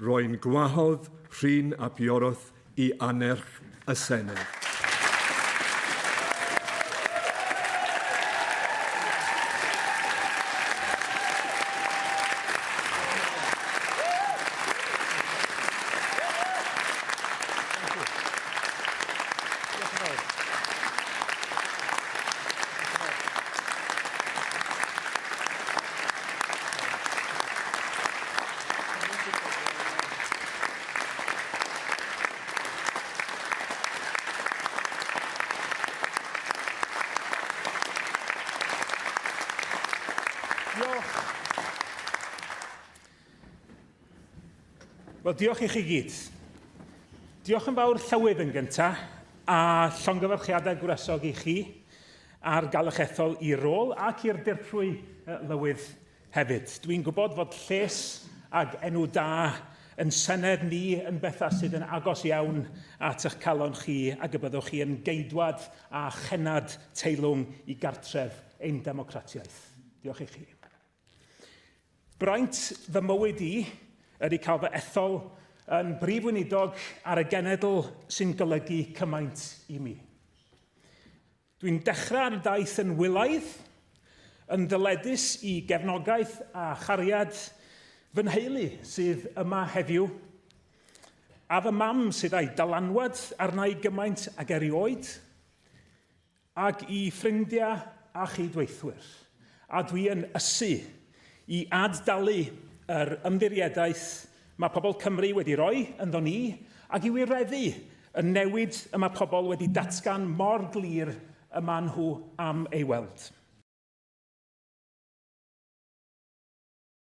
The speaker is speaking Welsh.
Rwy'n gwahodd Rhun ap Iorwerth i annerch y Senedd. Wel, diolch i chi gyd. Diolch yn fawr Llywydd yn gyntaf, a llongyfarchiadau gwresog i chi ar gael eich ethol i'r rôl ac i'r dirprwy Lywydd Hefyd, dw i'n gwybod fod lles ag enw da yn Senedd ni yn bethau sydd yn agos iawn at eich calon chi ac y byddwch chi yn geidwad a chennad teilwng i gartref ein democratiaeth. Diolch i chi. Braint fy mywyd i ydy cael fy ethol yn Brif Weinidog ar y genedl sy'n golygu cymaint i mi. Dwi'n dechrau ar y daith yn wylaidd, yn ddyledus i gefnogaeth a chariad fy nheulu sydd yma heddiw, a fy mam sydd a'i dylanwad arna'i gymaint ag erioed, ag i ffrindiau a chyd-weithwyr, a dwi yn ysu i ad-dalu yr ymddiriedaeth Mae pobl Cymru wedi rhoi ynddo ni ac i wireddu y newid y mae pobl wedi datgan mor glir y maen nhw am ei weld.